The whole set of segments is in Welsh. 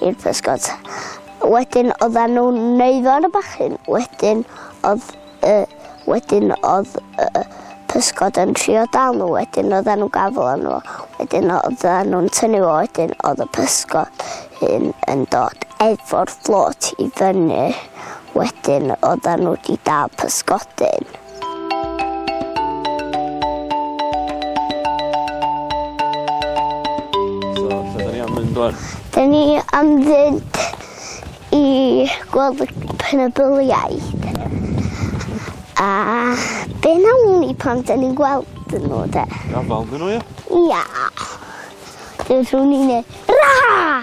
i'r pysgod. Wedyn oedden nhw'n neud ar y bachyn. Wedyn oedd y... Wedyn oedd y pysgod yn trio dal nhw. Wedyn oedden nhw'n gafel arno fo. Wedyn oedden nhw'n tynnu fo. Wedyn oedd y pysgod hyn yn dod efo'r fflôt i fyny. Wedyn oedden nhw wedi dal pysgodyn. Dyn ni am fynd i gweld y penybyliaid. A be nawn ni pan dyn ni'n gweld yn nhw de? Gafal dyn nhw, ie? Ia. Dyn nhw'n ni'n ei... Ra!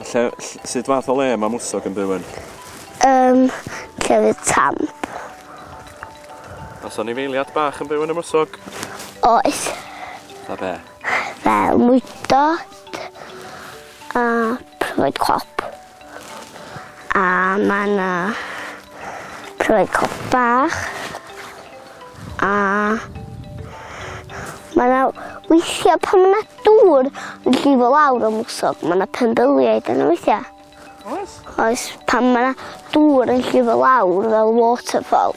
Lle, ll- sut fath o le mae mwsog yn byw yn? Yn llefydd tamp. Os anifeiliad bach yn byw yn y mwsog? Oes. Fatha be? Fel mwydod a pryfaid cop. A mae yna pryfaid cop bach. A mae 'na weithiau pan mae 'na dŵr yn llifo lawr y mwsog, mae 'na penbyliaid yna weithiau. Oes? Oes, pan mae 'na dŵr yn llifo lawr fel waterfall.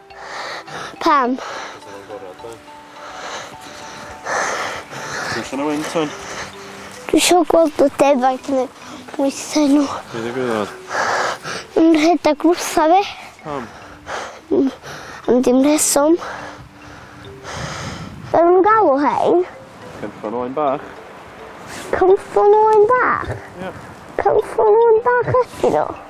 Pam? Dwi'n allan o wyn, Ton. Dwi eisiau gweld y defaid yn ei bwythau nhw. Dwi'n ei gwybod. Yn rhedeg wrtha fi. Pam? Am dim rheswm. Fel nhw'n galw hein? Cynffon o'n bach. Cynffon o'n bach? Ie. Yeah. Cynffon o'n bach ydyn nhw?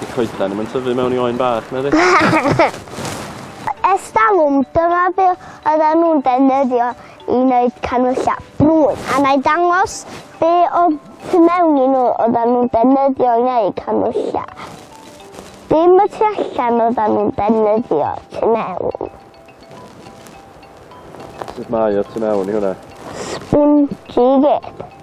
Di coeden ddim yn tyfu mewn i oen bach, na di? Estalwm, dyma be oedden nhw'n defnyddio i wneud canwyllau brwyn. A na i dangos be o tu mewn i nhw oedden nhw'n defnyddio i wneud canwyllau. Dim y tu allan oedden nhw'n defnyddio tu mewn. Sut mae o tu mewn i hwnna? Spongy gyd.